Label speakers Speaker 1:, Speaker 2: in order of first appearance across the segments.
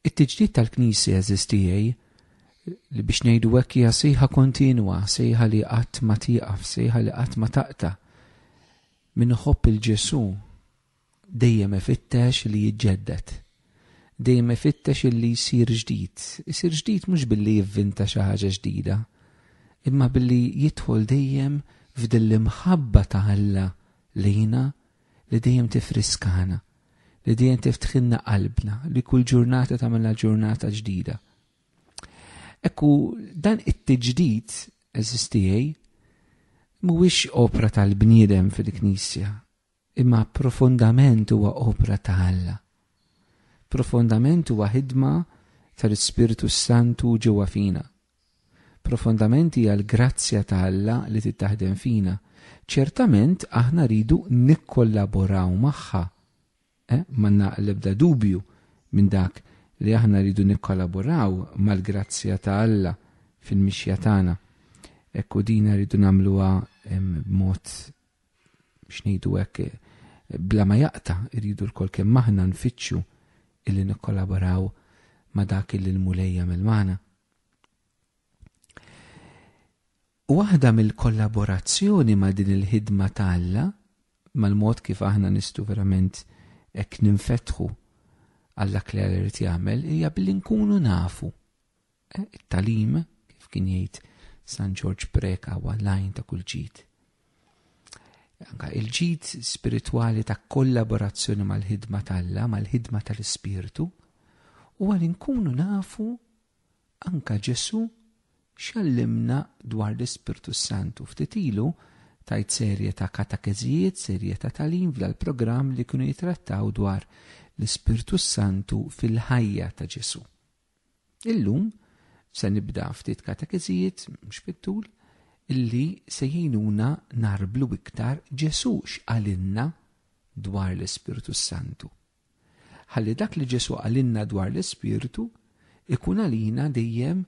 Speaker 1: It-tiġdid tal-Knisja eżistijaj li biex ngħidu hekk hija sejħa kontinwa, sejħa li qatt ma tieqaf, sejħa li qatt ma taqta. Min iħobb il-Ġesu dejjem ifittex li jiġġedded. Dejjem ifittex li jsir ġdid. Isir ġdid mhux billi jivvinta xi ħaġa ġdida, imma billi jidħol dejjem f'din l-imħabba ta' Alla lejna li dejjem tiffriskana, li dejjem tiftħilna qalbna, li kull ġurnata tagħmilha ġurnata ġdida. Ekku dan it-tiġdid eżistijej mhuwiex opra tal-bniedem fil-Knisja, imma profondament huwa opra ta' Alla. Profondament huwa ħidma tal-Ispirtu Santu ġewwa fina. Profondament hija l-grazzja ta' Alla li trid taħdem fina. Ċertament aħna rridu nikkollaboraw magħha. Eh, m'għandna l-ebda dubju minn dak li aħna rridu nikkollaboraw mal-grazzja ta' Alla fil-mixja tagħna. Ekku dina rridu nagħmluha b'mod biex ngħidu hekk, bla ma jaqta' irridu lkoll kemm aħna nfittxu illi nikkollaboraw ma' dak illi l-Mulej jagħmel magħna. Waħda mill-kollaborazzjoni ma' din il-ħidma ta' Alla, mal-mod kif aħna nistu verament hekk ninfetħu għall-dak li Alla jrid jagħmel, hija billi nkunu nafu Eh, it-talim, kif kien jgħid San Ġorġ Preka huwa lajn ta' kull ġid. Anka il-ġid spiritwali ta' kollaborazzjoni mal-ħidma tal-la, mal-ħidma tal-ispirtu, u għal inkunu nafu anka Ġesu xallimna dwar l-Ispirtu Santu ftitilu tajt serje ta' katakezijiet, serje ta' talim fl programm li kienu jitrattaw dwar l-Ispirtu Santu fil-ħajja ta' Ġesu. Illum se nibda ftit katekeżijiet mhux fit-tul illi se jgħinuna nagħrblu iktar Ġesù x'qalilna dwar l-Ispirtu s-Santu. Ħalli dak li Ġesù qalilna dwar l-Ispirtu ikun għalina dejjem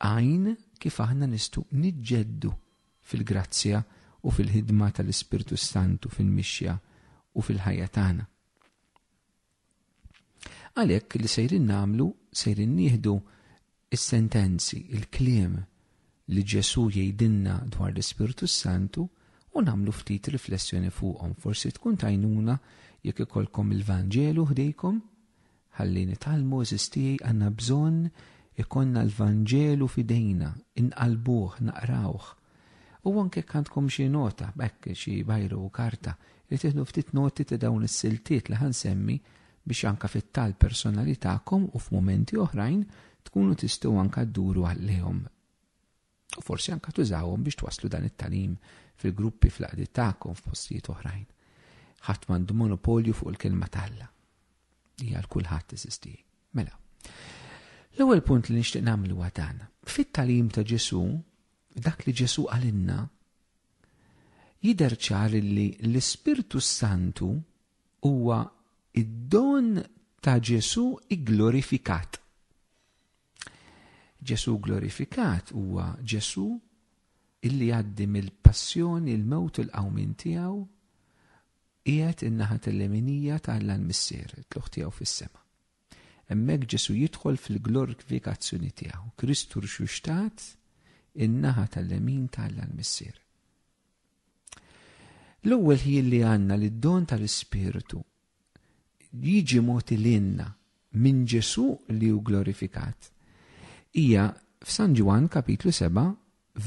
Speaker 1: għajn kif aħna nistgħu niġġeddu fil-grazzja u fil-ħidma tal-Ispirtu s-Santu fil-mixja u fil-ħajja tagħna. Għalhekk li sejrin nagħmlu sejrin nieħdu s-sentenzi, il-kliem li Ġesù jgħidilna dwar l-Ispirtu s-Santu u nagħmlu ftit riflessjoni fuqhom. Forsi tkun tajnuna jekk ikollkom il-Vanġelu ħdejkom ħalli nitgħallmu għażiż tiegħi għandna bżonn ikollna l-Vanġelu f'idejna, inqallbuh, naqrawh, U anke jekk għandkom xi nota, hekk xi bajru u karta, li tieħdu ftit noti ta' dawn is-siltiet li ħansemmi biex anke fit-talb personali tagħkom u f'mumenti oħrajn tkunu tistgħu anke dduru għalihom. U forsi anke tużawhom biex twasslu dan it-tagħlim fil-gruppi fl-għaqdiet tagħkom f'postijiet oħrajn. Ħadd m'għandu monopolju fuq il-kelma t'Alla. Hija l kulħadd teżisti. Mela. L-ewwel punt li nixtieq nagħmlu huwa dan. Fit-tagħlim ta' Ġesu, dak li Ġesù qalilna, jidher ċar li l-Ispirtu s-Santu huwa id-don ta' Ġesù igglorifikat. Ġesù glorifikat huwa Ġesù illi għaddi mill-passjoni, il-mewt u l-qawmin tiegħu qiegħed in-naħa tal-leminija tal-Missier, tluħ tiegħu fis-sema. Hemmhekk Ġesù jidħol fil-glorkvikazzjoni tiegħu, Kristu rxuxtat in-naħa tal-lemin ta' Alla l-Missier. L-ewwel ħin li għandna li d-don tal-Ispirtu jiġi moti l-inna minn Ġesu li hu glorifikat hija f'San Ġwan kapitlu 7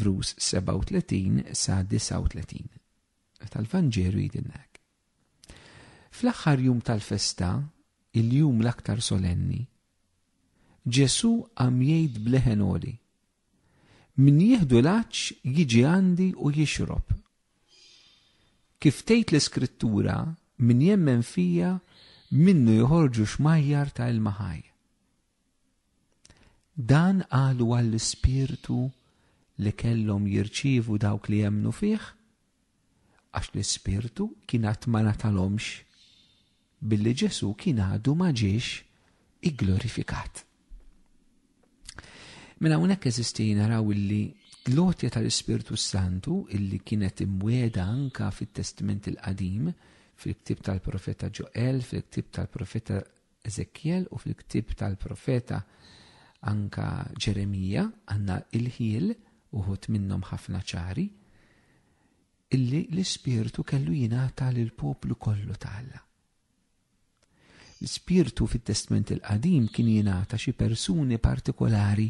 Speaker 1: vrus 37 sa 39 tal-Vanġelu jidinnek. Fl-aħħar jum tal-festa, il-jum l-aktar solenni, Ġesù qam jgħid b'leħen għoli, Min jieħdu l-għaġġ jiġi għandi u jixrob. Kif tgħid l-Iskrittura, min jemmen fija minnu joħorġu xmajjar ta' ilma ħaj. Dan qalu għall-ispirtu li kellhom jirċievu dawk li emmnu fih, għax l-ispirtu kien għad ma ngħatalhomx, billi Ġesù kien għadu ma ġiex igglorifikat. Minn hawnhekk eżisti naraw illi l-għotja tal-Ispirtu Santu illi kienet imwiegħda anka fit-Testament il-Qadim, fil-ktib tal-profeta Ġoel, fil-ktib tal-profeta Eżekjel u fil-ktieb tal-profeta anke Ġeremija għandna ilħiel, uħud minnhom ħafna ċari, illi l-ispirtu kellu jingħata lill poplu kollu ta' Alla. L-ispirtu fit-Testment il-Qadim kien jingħata xi persuni partikolari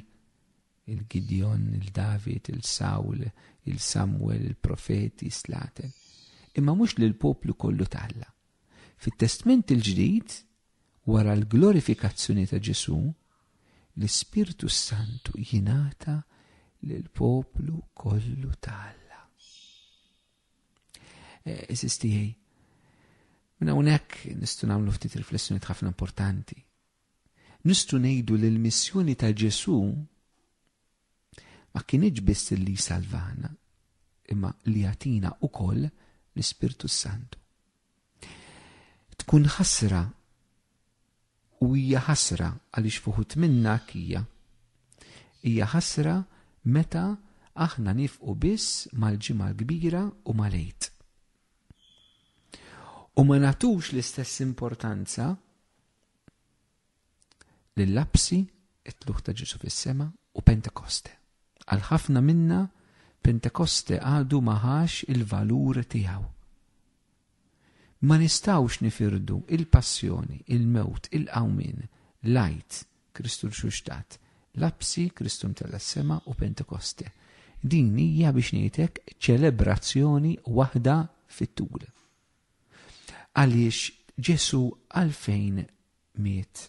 Speaker 1: il-Gidjon, il-David, il-Sawl, il-Samwel, il-Profeti, Slaten. Imma mhux lill poplu kollu ta' Alla. Fit-Testment il-Ġdid, wara l-glorifikazzjoni ta' Ġesù, l-Ispirtu s-Santu jingħata lill-poplu kollu ta' Alla. Eżis eh, tiegħi, minn hawnhekk nistgħu nagħmlu ftit riflessjonijiet ħafna importanti. Nistgħu ngħidu li l-missjoni ta' Ġesù ma kinitx biss li jsalvana, imma li jagħtina wkoll l-Ispirtu s-Santu. Tkun ħasra u hija ħasra għaliex fuħut minna hija. Hija ħasra meta aħna nifqu biss mal-ġimgħa l-kbira u mal-għid. U ma natux l-istess importanza L-Lapsi, it-Tlugħ ta' Ġesù fis-Sema u Pentekoste. Għal ħafna minna, Pentekoste għadu ma ħax il-valur tiegħu. Ma nistgħux nifirdu il-passjoni, il-mewt, il-qawmien, l-Għid, Kristu rxuxtat, Lapsi, Kristu mtella' s-sema u Pentekoste. Din hija biex ngħidlek ċelebrazzjoni waħda fit-tul. Għaliex Ġesù għalfejn miet?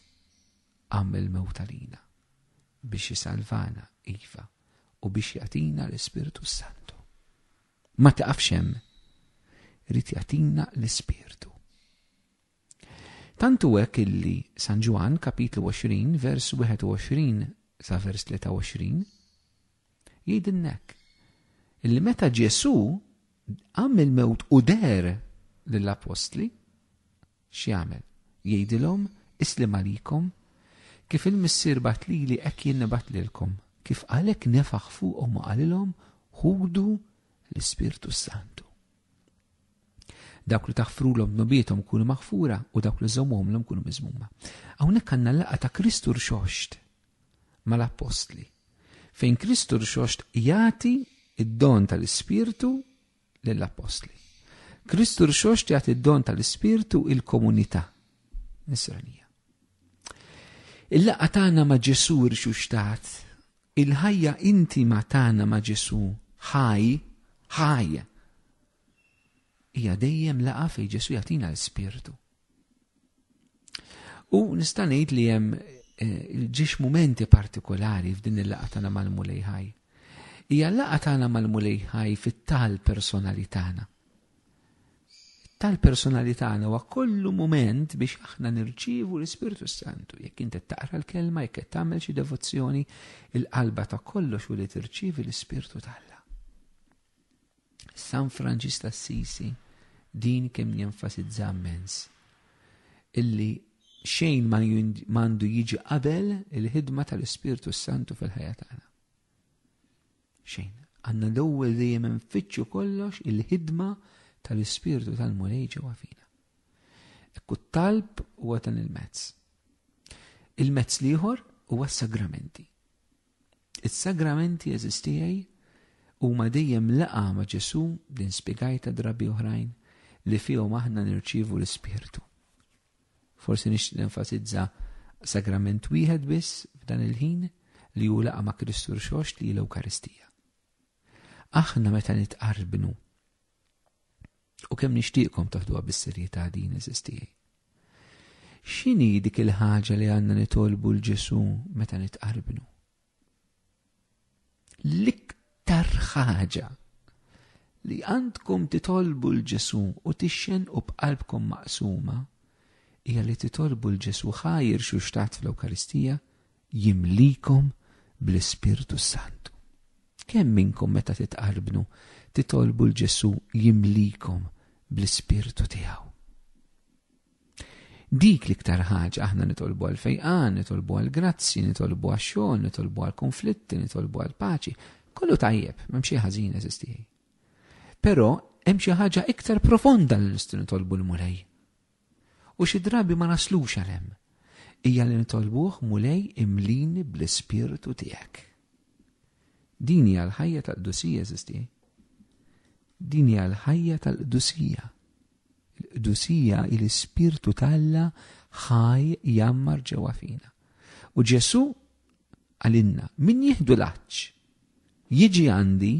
Speaker 1: Qam mill-mewt għalina, biex isalvana, iva, u biex jagħtina l-Ispirtu s-Santu. Ma taqafx hemm, irid jagħtina l-Ispirtu. Tantu hekk illi San Ġwann kapitlu 20 vers 21 sa vers 23 Jgħidilnek illi meta Ġesu għam il-mewt u der lill-apostli, x'jagħmel? Jgħidilhom islim għalikom kif il-Missier bat lili hekk jien nibat lilkom. Kif għalek nefaħ fuqhom u qalilhom ħudu l-Ispirtu Santu. Dawk li taħfrulhom nobietom kunu maħfura u dawk li żommhomlhom kunu miżmuma. Hawnhekk għandna l-laqgħa ta' Kristu rxoxt mal-appostli, fejn Kristu rxoxt jagħti id-don tal-Ispirtu lill-appostli. Kristu rxoxt jagħti id-don tal-Ispirtu il-komunità nisranija. Il-laqgħa tagħna ma' Ġesu rxuxtat, il-ħajja intima tagħna ma' Ġesu ħaj, ħaj, Hija dejjem laqgħa fejn Ġesu jagħtina l-Ispirtu. U nista' ngħid li hemm eh, ġiex mumenti partikolari f'din il-laqgħa tagħna mal-Mulej Ħaj. Hija laqgħa tagħna mal-Mulej Ħaj fit-tal personali tagħna. Tal personali tagħna huwa kollu mument biex aħna nirċievu l-Ispirtu Santu. Jekk inti taqra l-kelma, jekk qed tagħmel xi devozzjoni, il-qalba ta' kollox u li tirċievi l-Ispirtu tal San Franġis t'Assisi din kemm jenfasizza mmens illi xejn ma għandu jiġi qabel il-ħidma tal-Ispirtu Santu fil-ħajja tagħna. Xejn, għandna l-ewwel dejjem infittxu kollox il-ħidma tal-Ispirtu tal-Mulej ġewwa fina. Ekku talb huwa dan il-mezz. Il-mezz l-ieħor huwa s-sagramenti. Is-sagramenti għeżiż tiegħi huma dejjem laqgħa ma' Ġesù, din spjegajtha drabi oħrajn, li fihom aħna nirċievu l-Ispirtu. Forsi nixtieq nenfasizza sagrament wieħed biss f'dan il-ħin li hu laqa ma' Kristu rxoxt li l-Ewkaristija. Aħna meta nitqarbnu U kemm nixtieqkom taħduha bis-serjetà din eżis tiegħi. X'inhi dik il-ħaġa li għandna nitolbu l Ġesu meta nitqarbnu? L-iktar ħaġa li għandkom titolbu l Ġesu u tixxen u b'qalbkom maqsuma hija li titolbu l Ġesu ħajr xu xtat fl-Ewkaristija jimlikom bl-Ispirtu s-Santu. Kemm minnkom meta titqarbnu titolbu 'l Ġesù jimlikom bl-Ispirtu tiegħu? Dik l-iktar ħaġa aħna nitolbu għal fejqan, nitolbu għal grazzi, nitolbu għal xogħol, nitolbu għal konflitti, nitolbu għal paċi. Kollu tajjeb, m'hemm xi ħażin eżistijaj. Però hemm xi ħaġa iktar profonda li nistgħu nitolbu l-Mulej. U xi drabi ma naslux għal hemm. Hija li nitolbuh, Mulej, imlini bl-Ispirtu tiegħek. Din hija l-ħajja tal-qdusija, eżisti. Din hija l-ħajja tal-qdusija. Il-qdusija il-Ispirtu tal-la ħaj jammar ġewwa fina. U Ġesu għalinna, min jihdu l-aċċ, jiġi għandi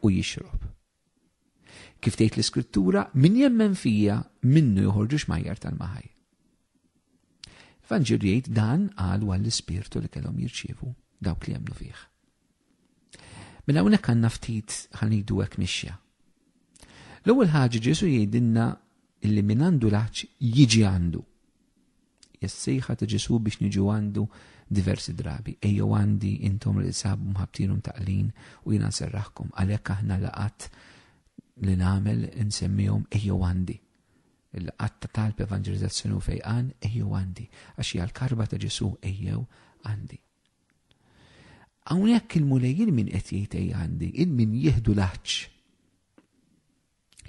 Speaker 1: u jixrob. Kif tgħid l-iskrittura, min jemmen fija minnu joħorġu xmajjar tal-maħaj. Vanġir jgħid dan għal għall ispirtu li kellhom jirċievu dawk li jemnu fih. Mela hawnhekk għandna ftit ħanidu hekk mixja. L-ewwel ħaġa Ġesu jgħidilna li min għandu laċ jiġi għandu. Jessejħa ta' Ġesu biex niġu għandu diversi drabi. Ejjew għandi intom li sabu mħabtin u taqlin u jina nserraħkom. Għalhekk aħna laqat li nagħmel insemmihom ejjew għandi. Il-laqat ta' talb evanġelizzazzjoni u fejqan ejjew għandi. Għax hija l-karba ta' Ġesu ejjew għandi. Hawnhekk il-mulej il-min qed jgħid għandi, il-min jieħdu l-aħċ.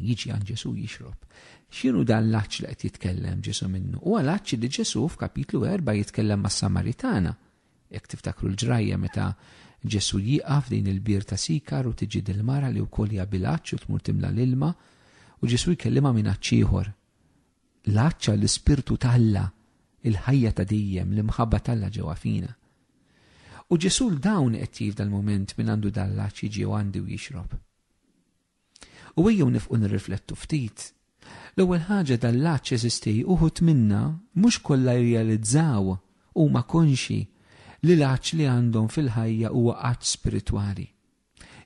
Speaker 1: jiġi għand Ġesu jixrob. X'inhu dan l-aċċ li qed jitkellem Ġesu minnu? Huwa l-aċċ li Ġesu f'kapitlu 4 jitkellem mas-Samaritana. Jekk tiftakru l-ġrajja meta Ġesu jieqaf din il-bir ta' sikar u tiġi dil-mara li wkoll hija bil-aċċ u tmur timla l-ilma u Ġesu jkellimha minn aċċ ieħor. L-aċċa l-ispirtu talla, il-ħajja ta' dejjem, l-imħabba talla ġewwa fina. U Ġesu l-dawn qed jif dal-moment minn għandu dal-aċċ jiġi għandi u jixrob. U ejjew nifqu nirriflettu ftit. L-ewwel ħaġa dan l-għatx jeżisti, uħud minna, mhux kollha jirrealizzaw, huma konxji, li l-għatx li għandhom fil-ħajja huwa għatx spiritwali.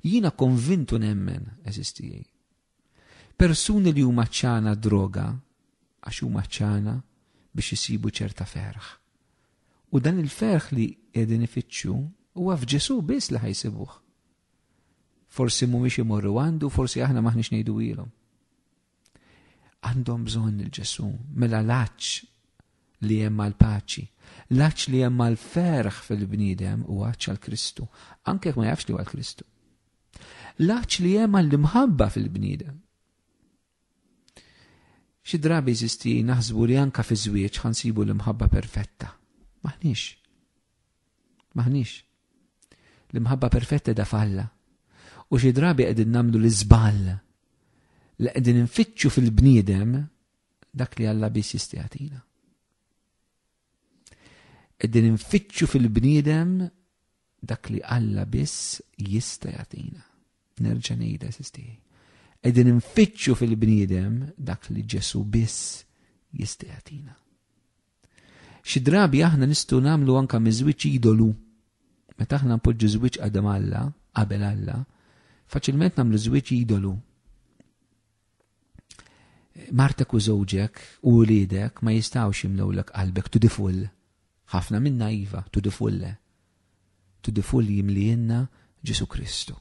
Speaker 1: Jiena konvint u nemmen, għeżież tiegħi. Persuni li huma għatxana għad-droga, għax huma għatxana biex isibu ċerta ferħ. U dan il-ferħ li qegħdin ifittxu huwa f'Ġesù biss li ħajsibuh. Forsi mhumiex imorru għandu, forsi aħna m'aħniex ngħiduhielhom. Għandhom bżonn il-Ġesu, mela l-għaġġ li hemm għal paċi L-għaġġ li hemm għal ferħ fil-bniedem u għaġġ għal Kristu, anke ma jafx li għal Kristu. L-għaġġ li hemm għal imħabba fil-bniedem. Xi drabi jeżisti naħsbu li anka fi żwieġ ħansibu l-imħabba perfetta. Maħniex. Maħniex. L-imħabba perfetta da falla. U xi drabi qegħdin nagħmlu l-iżball li qegħdin nfittxu fil-bniedem dak li Alla biss jistgħatina. Qegħdin nfittxu fil-bniedem dak li Alla biss jista' jagħtina. Nerġa' ngħidha sistieħi. Qegħdin nfittxu fil-bniedem dak li Ġesu biss jista' jagħtina. Xi drabi aħna nistgħu nagħmlu anke miż-żwieġ idolu. Meta aħna npoġġu żwieġ qadam Alla, qabel Alla, faċilment nagħmlu żwieġ idolu. Martek u żewġek u wliedek ma jistgħux jimlewlek qalbek to the full. Ħafna minna iva, to the full le. To the full jimlienna Ġesu Kristu.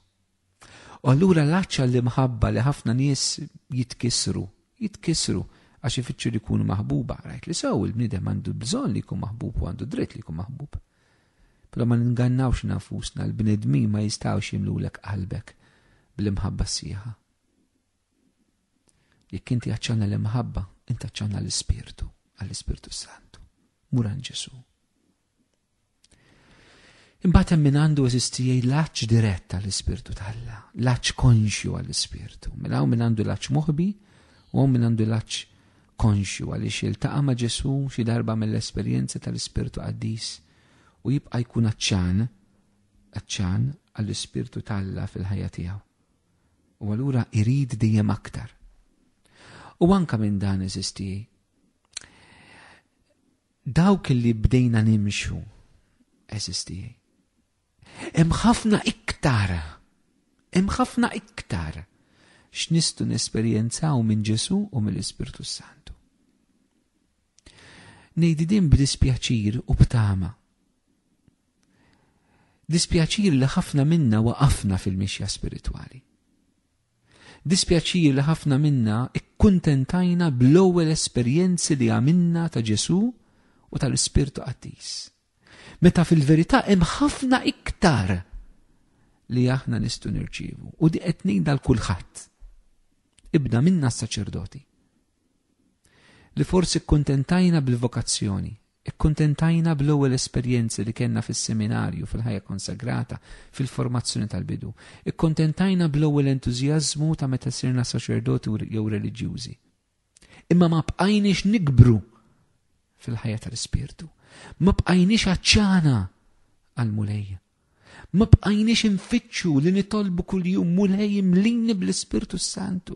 Speaker 1: U allura l-għatx għall-imħabba li ħafna nies jitkissru, jitkissru għax ifittxu li jkunu maħbuba. Rajt li sew il-bniedem għandu bżonn li jkun maħbub u għandu dritt li jkun maħbub. Però ma ningannawx nafusna l-bnedmin ma jistgħux jimlulek qalbek bl-imħabba sieħa. Jekk inti għaċċana l-imħabba, inti għaċċana l-ispirtu, għall-ispirtu santu. Muran Ġesu. Imbagħad hemm min għandu eżisti jgħid l-aċċ dirett għall-Ispirtu t'Alla, l-aċċ konxju għall-Ispirtu. Minn hawn min għandu l-aċċ moħbi u hawn min għandu l-aċċ konxju għaliex iltaqa' ma' Ġesu xi darba mill-esperjenza tal-Ispirtu Qaddis u jibqa' jkun aċċan aċċan għall-Ispirtu t'Alla fil-ħajja tiegħu. U allura irid dejjem aktar. U anka minn dan eżisti Dawk li bdejna nimxu, għeżież tiegħi. Hemm ħafna iktar, hemm ħafna iktar x'nistgħu nesperjenzaw minn Ġesù u mill-Ispirtu s-Santu. Ngħidi din b'dispjaċir u b'tama. Dispjaċir li ħafna minna waqafna fil-mixja spiritwali. Dispjaċir li ħafna minna kkuntentajna bl-ewwel esperjenzi li għamilna ta' Ġesù u tal-Ispirtu Qaddis, meta fil-verità hemm ħafna iktar li aħna nistgħu nirċievu. U di qed ngħidha 'l kulħadd, ibda minna s-saċerdoti. li forsi kkuntentajna bil-vokazzjoni, ikkuntentajna bl-ewwel esperjenzi li kellna fis-seminarju, fil-ħajja konsagrata, fil-formazzjoni tal-bidu, ikkuntentajna bl-ewwel entużjażmu ta' meta sirna saċerdoti jew reliġjużi. Imma ma bqajniex nikbru fil-ħajja tal-ispirtu. Ma bqajniex għaċċana għal-Mulej. Ma bqajniex infittxu li nitolbu kuljum Mulej imlini bl-Ispirtu Santu.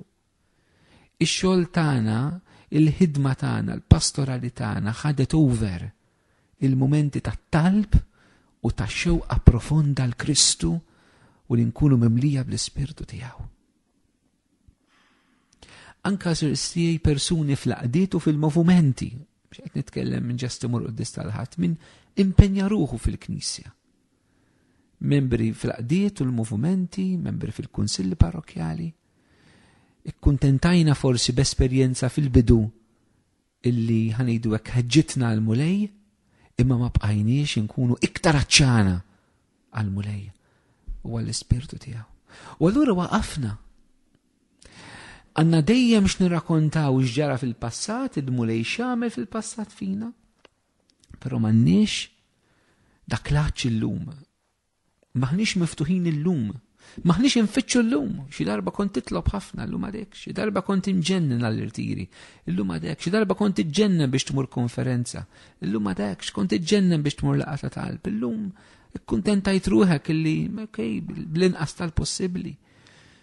Speaker 1: Ix-xogħol tagħna, il-ħidma tagħna, l-pastorali tagħna ħadet over il-mumenti tat-talb u ta' xewqa profonda l-Kristu u li nkunu mimlija bl-Ispirtu tiegħu. Anka sirstijaj persuni fl-qdiet u fil-movimenti, x'qed nitkellem minn ġesti mur qoddis tal-ħadd, minn impenja ruħu fil-Knisja. Membri fl-qdiet u l-movimenti, membri fil-kunsilli parrokjali, Ikkuntentajna forsi b'esperjenza fil-bidu illi ħa ngħidu hekk ħeġġitna għall-Mulej, imma ma bqajniex inkunu iktar aċċana għall-Mulej u għall-Ispirtu tiegħu. U allura waqafna. Għanna dejjem x'nirrakontaw x'ġara fil-passat, il-Mulej x'għamel fil-passat fina, però m'għandniex dak l illum M'aħniex miftuħin illum. M'aħniex infittxu llum. Xi darba kont titlob ħafna llum għadek. Xi darba kont inġennen għall-irtiri. Illum għadek. Xi darba kont iġġennen biex tmur konferenza. Illum għadek. X'kont iġġennen biex tmur laqgħa ta' talb. Illum ikkuntentajt ruħek illi, okej, bl-inqas tal-possibbli.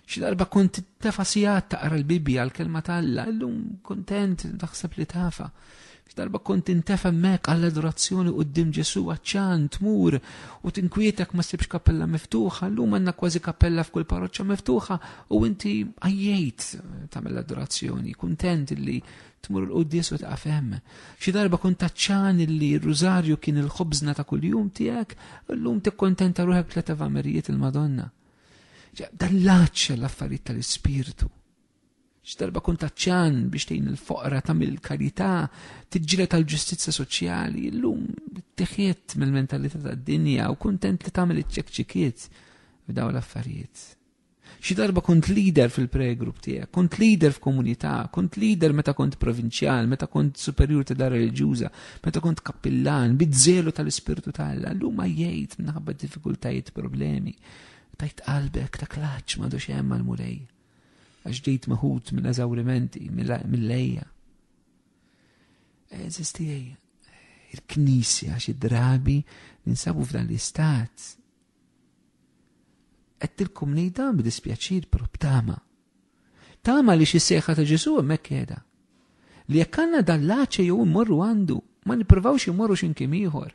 Speaker 1: Xi darba kont tefa sigħat taqra l-Bibbja għal kelma ta' Alla, illum kuntent taħseb li tafa. Xi darba kont intefa hemmhekk għall adorazzjoni quddiem Ġesu għaċċan tmur u tinkwietek ma sibx kappella miftuħa, llum għandna kważi kappella f'kull parroċċa miftuħa u inti għajjejt tagħmel adorazzjoni, kuntent li tmur l-qudies u taqaf hemm. Xi darba kont taċċan li r-rużarju kien il-ħobżna ta' kuljum tiegħek, llum tikkontenta ruħek tliet evamerijiet il-Madonna. Dan l-aċċa l-affarijiet tal-ispirtu. X'darba kun taċċan biex tgħin il-foqra tagħmel karità, tiġġieled tal-ġustizzja soċjali, llum teħiet mill-mentalità tad-dinja u kuntent li tagħmel iċ-ċekċikiet f'dawn l-affarijiet. Xi darba kont leader fil-pregrupp tiegħek, kont leader f'komunità, kont leader meta kont provinċjal, meta kont superjur ta' dar reliġjuża, meta kont kappillan, bizzelu tal-ispirtu tal-Alla, llum ma jgħid minħabba diffikultajiet problemi Tajt qalbek ta' klaċ madu xem għal-Mulej, għax ġejt maħut minn eżawrimenti, mill-lejja. Eżistijaj, il-knisja xi drabi ninsabu f'dan l-istat. Għettilkom nejda b'dispjaċir pero b'tama. Tama li xi seħħa ta' Ġesu hemmhekk qiegħda. Li jekk għandna dan l-aċe jew immorru għandu, ma nippruvawx immorru x'imkien ieħor.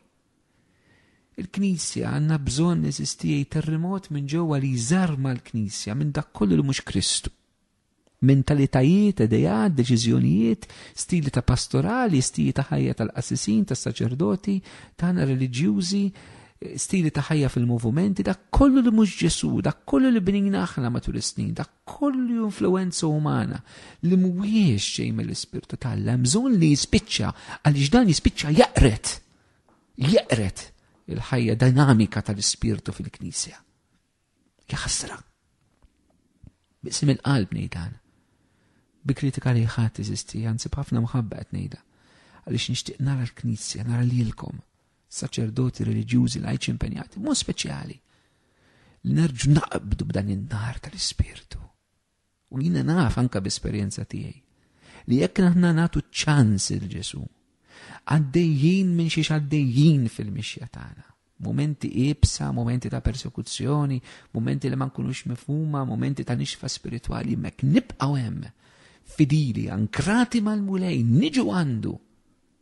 Speaker 1: Il-Knisja għandna bżonn eżisti jgħid terrimot minn ġewwa li jżarma l-Knisja minn dak kollu li mhux Kristu. Mentalitajiet, ideat, deċiżjonijiet, stili ta' pastorali, stili ta' ħajja tal-qassisin, tas-saċerdoti, tagħna reliġjużi, stili ta' ħajja fil-movimenti, dak kollu li mhux Ġesu, dak kollu li bnina aħna matul is-snin, dak kollu influenza umana li mhuwiex xejn mill-Ispirtu tal-Alla, bżonn li jispiċċa għaliex dan jispiċċa jaqret jeqred il-ħajja dinamika tal-ispirtu fil-Knisja. Jaħsra. Bisim il-qalb nejdan. Bi kritika li ħadd iżisti, anzi b'ħafna mħabba qed ngħidha. Għaliex nixtieq nara l-Knisja, nara lilkom, saċerdoti reliġjużi lajċi impenjati, mod speċjali. Li nerġu naqbdu b'dan in-nar tal-ispirtu. U jiena naf anke b'esperjenza tiegħi li jekk aħna nagħtu ċans il Ġesu, għaddejjin minn xiex għaddejjin fil-mixja tagħna. Momenti ibsa, momenti ta' persekuzzjoni, momenti li ma nkunux mifhuma, momenti ta' nixfa spiritwali, mek nibqgħu hemm fidili, ankrati mal-mulej, niġu għandu,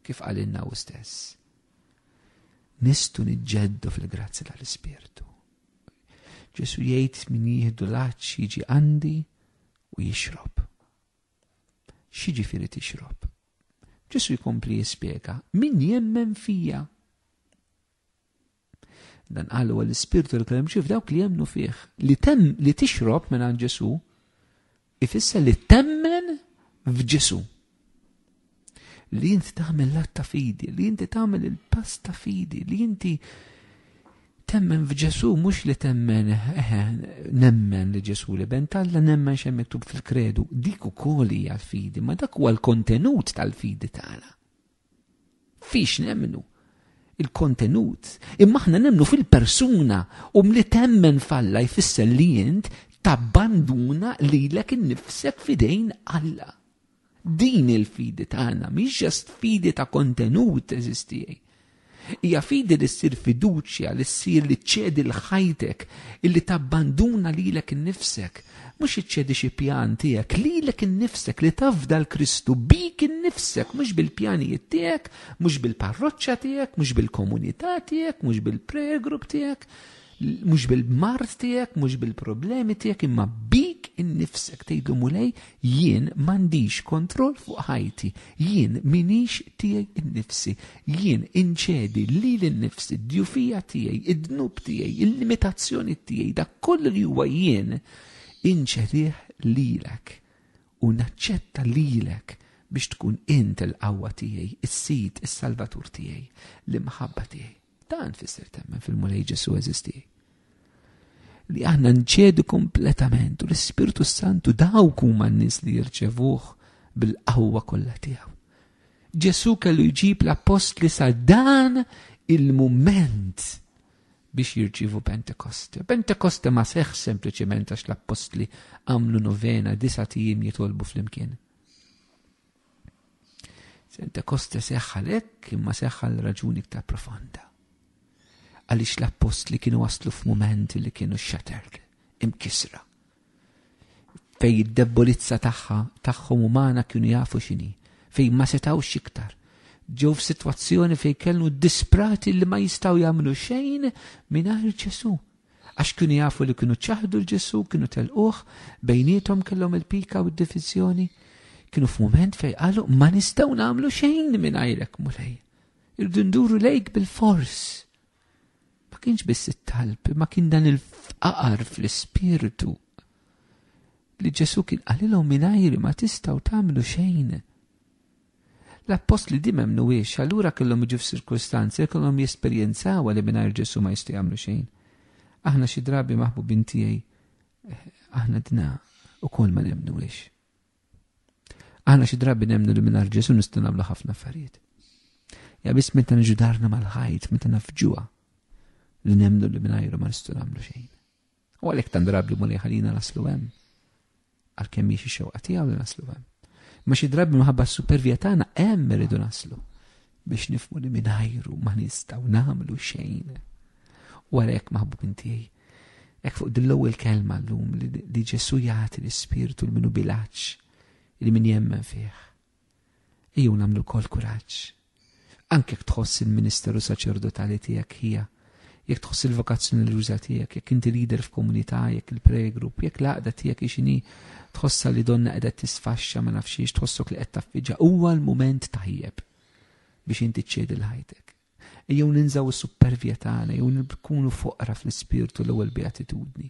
Speaker 1: kif għalinna u stess. Nistu nġeddu fil-grazzi tal-Ispirtu. Ġesù jgħid min jieħdu l-għatx jiġi għandi u jixrob. X'jiġifieri tixrob? Ġesù jkompli jispjega min jemmen fija. Dan qal huwa l-ispirtu l-kelm ġif dawk li jemmnu fih. Li tem li tixrob minn Ġesù Ifisser li temmen f'Ġesu. Li inti tagħmel l ta' fidi, li inti tagħmel il-pass ta' fidi, li inti temmen f'Ġesu mhux li temmen nemmen li Ġesu li ben talla nemmen xem miktub fil-kredu. Dik ukoll hija l-fidi, ma dak huwa l-kontenut tal-fidi tagħna. Fiex nemmnu? Il-kontenut. Imma aħna nemmnu fil-persuna u mli temmen falla jfisser li int tabbanduna lilek innifsek fidejn Alla. Din il-fidi tagħna mhix ġast fidi ta' kontenut eżistijaj. Hija fidi li ssir fiduċja, li ssir li ċċedi l-ħajtek, illi tabbanduna lilek innifsek. Mhux iċċedi xi pjan tiegħek, lilek innifsek li tafda l-Kristu bik innifsek, mhux bil-pjanijiet tiegħek, mhux bil-parroċċa tiegħek, mhux bil-komunità tiegħek, mhux bil-prayer group tiegħek. Mhux bil-mart tiegħek, mhux bil-problemi tiegħek, imma bik innifsek tgħidu mulej jien m'għandix kontroll fuq ħajti, jien minix tiegħi innifsi, jien inċedi li l-innifsi, d-djufija tiegħi, id-dnub tiegħi, il-limitazzjoni tiegħi, dak kollu li huwa jien inċedih lilek u naċċetta lilek biex tkun int il-qawwa tiegħi, is-sid, is-salvatur tiegħi, l-imħabba tiegħi. Dan fisser temmen fil-Mulej Ġesu eżisti. Li aħna nċedu kompletament u l-Ispirtu Santu dawk huma n-nies li jirċevuh bil-qawwa kollha tiegħu. Ġesu kellu jġib l-appostli sa dan il-mument biex jirċivu Pentekoste. Pentekoste ma seħ sempliċement għax l-appostli għamlu novena disa tijim jitolbu fl-imkien. Pentekoste seħħa lek imma seħħa l-raġuni iktar profonda. Għaliex l-appost li kienu waslu f'mument li kienu shattered, imkisra. Fej id-debbolizza tagħha tagħhom umana kienu jafu x'inhi, fej ma setawx iktar. Ġew f'sitwazzjoni fej kellu disprati li ma jistgħu jagħmlu xejn mingħajr Ġesu. Għax kienu jafu li kienu ċaħdu 'l Ġesù, kienu telquh, bejniethom kellhom il-pika u d-diviżjoni. Kienu f'mument fejn qalu, Ma nistgħu nagħmlu xejn mingħajrek, Mulej. Irridu nduru lejk bil-fors. Ma kienx biss it-talb, ma kien dan il-fqar fl-ispirtu li Ġesù kien qalilhom mingħajri ma tistgħu tagħmlu xejn. L-appostli di m'emmnuhiex, allura kellhom jiġu f'sirkustanzi li kellhom jesperjenzawha li mingħajr Ġesù ma jistgħu jagħmlu xejn. Aħna xi drabi maħbubin tiegħi aħna dna ukoll ma nemmnuhiex. Aħna xi drabi nemmnu li mingħajr Ġesù nistgħu nagħmlu ħafna affarijiet. Ja biss meta niġu darna mal-ħajt, meta nafġuha li nemmnu li mingħajru ma nistgħu nagħmlu xejn. U għalhekk tant drabi Mulej ħalina naslu hemm. Għalkemm mhix ix-xewqa tiegħu li naslu hemm. Ma xi drabi minħabba s-supervija tagħna hemm irridu naslu biex nifmu li mingħajru ma nistgħu nagħmlu xejn. U għalhekk maħbub inti Ek fuq dill-ewwel kelma llum li Ġesu jagħti l-ispirtu l-minu bilaċ li min jemmen fih Ejjew nagħmlu wkoll kuraġġ. Anke jekk tħoss il-ministeru saċerdotali tiegħek ħija, jekk tħoss il-vokazzjoni reliġjuża tiegħek, jekk inti leader f'komunità, jekk il-prayer group, jekk l-għaqda tiegħek ixini tħossha li donna qiegħda tisfaxxa ma nafxiex tħossok li qed taffiġa huwa l-mument tajjeb biex inti ċċedi l-ħajtek. Ejjew ninżaw is-supervja tagħna jew nkunu foqra fl-ispirtu l-ewwel beatitudni.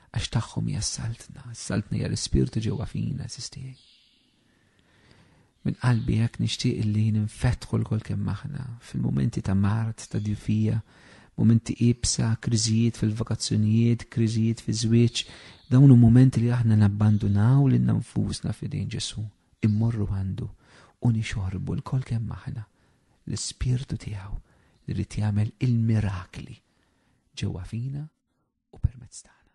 Speaker 1: Għax tagħhom hija s-saltna, s-saltna hija l-ispirtu ġewwa fina, sistijaj. Min qalbi hekk nixtieq li ninfetħu l-kol kemm aħna fil-momenti ta' mart, ta' djufija, momenti ibsa, kriżijiet fil-vakazzjonijiet, kriżijiet fi żwieġ, dawn u momenti li aħna nabbandunaw lil nfusna fidejn Ġesu, immorru għandu u nixorbu l-kol kemm aħna l-ispirtu tiegħu li rrid jagħmel il-mirakli ġewwa fina u permezz tagħna.